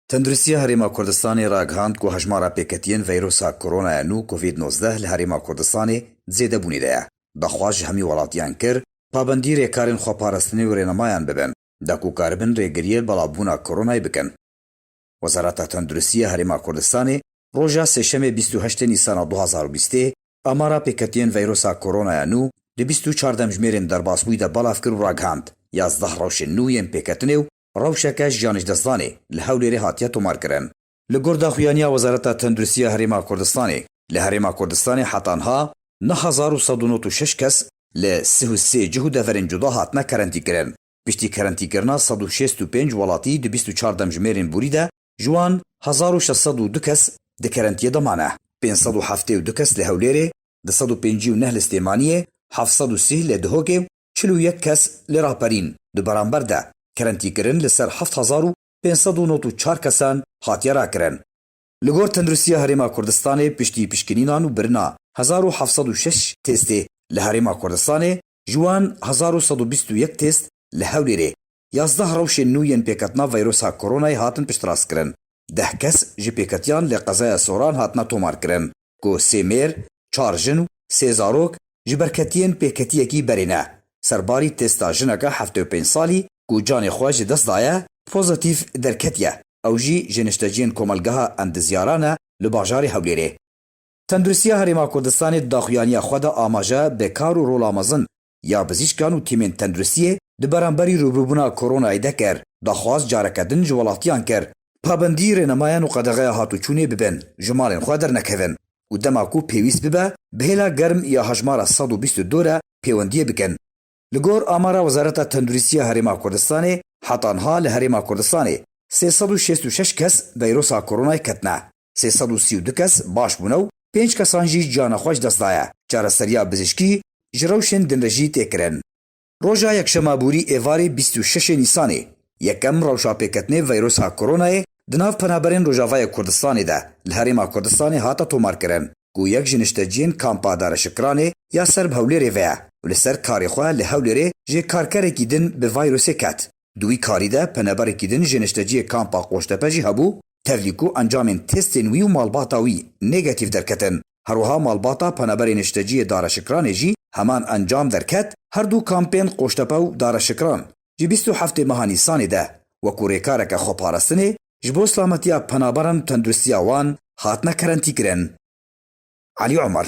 Tenduristiya Herêma Kurdistanê ragihand ku hejmara pêketiyên veyrusa koronaya nû Covid nozdeh li Herêma Kurdistanê di zêdebûnê de ye. Daxwaz ji hemî welatiyan kir, pabendî rêkarên xweparastinê û rênemayan bibin, da ku karibin rêgiriyê belavbûna koronayê bikin. Wezareta Tenduristî ya Herêma Kurdistanê roja sêşemê bîst û heştê Nîsana du hezar û bîstê amara pêketiyên veyrusa koronaya nû di bîst û çar demjimêrên derbasbûyî de belav kir û ragihand, yazdeh rewşên nû yên pêketinê û Rewşeke jiyanê ji destdanê li Hewlêrê hatiye tomarkirin. Li gor daxuyaniya Wezareta Tenduristiya Herêma Kurdistanê, li Herêma Kurdistanê heta niha neh hezar û sed û nod û şeş kes li sih û sê cih û deverên cuda hatine kerentîkirin. Piştî kerentîkirina sed û şêst û pênc welatî di bîst û çar demjimêrên borî de, ji wan hezar û şeş sed û du kes di kerentiyê de mane. Pênc sed û heftê û du kes li Hewlêrê, du sed û pêncî û neh li Slêmaniyê, heft sed û sîh li Dihokê û çil û yek kes li raperîn di beramber de kerentîkirin li ser heft hezar û pênc sed û nod û çar kesan hatiye rakirin. Li gor Tenduristiya Herêma Kurdistanê piştî pişkinînan û birina hezar û heft sed û şeş têstê li Herêma Kurdistanê ji wan hezar û sed û bîst û yek têst li Hewlêrê Yazdeh rewşên nû yên pêketina veyrusa koronayê hatin piştrastkirin. Deh kes ji pêketiyan li qezaya Soran hatina tomarkirin ku sê mêr, çar jin û sê zarok ji ber ketiyên pêketiyekî berê ne. Serbarî testa jineke heftê û pênc salî ku canê xwe ji dest daye, pozîtîf derketiye, ew jî ji nişteciyên komelgeha Endizyaran e li bajarê Hewlêrê. Tenduristiya Herêma Kurdistanê di daxuyaniya xwe de amaje bi kar û rola mezin ya bizîşkan û tîmên tenduristiyê di beramberî rûbirûbûna koronayê de kir, daxwaz careke din ji welatiyan kir pabendî rênemayan û qedexe hatûçûnê bibin, ji malên xwe dernekevin û dema ku pêwîst bibe bi hêla germ ya hejmara sed û bîst û du re pêwendiyê bikin. Li gor amara Wezareta Tenduristiya Herêma Kurdistanê, heta niha li Herêma Kurdistanê sê sed û şêst û şeş kes veyrusa koronayê ketine. sê sed û sî û du kes baş bûne û pênc kesan jî ciyana xwe ji dest daye. Çareseriya bizîşkî ji rewşên din re jî tê kirin. Roja Yekşema Bûrî êvarê bîst û şeş ê Nîsanê yekem rewşa pêketinê veyrusa koronayê di nav penaberên Rojavayê Kurdistanê de li Herêma Kurdistanê hate tomarkirin ku yek ji nişteciyên Kampa Dareşikiranê ya ser bi Hewlêrê ve ye û li ser karê xwe li Hewlêrê jê karkerekî din bi vayrusê ket. Di wî karî de peneberekî din ji nişteciyê kampa Qoştepe jî hebû, tevlî ku encamên testên wî û malbata wî nêgetîf derketin. Herwiha malbata peneberê nişteciyê Dareşikranê jî heman encam derket, her du kampên Qoştepe û Dareşikran ji bîst û heftê meha Nîsanê de wekû rêkareke xweparastinê ji bo silametiya penaberan û tendirustiya wan hatine kerentîkirin. Elî Omer.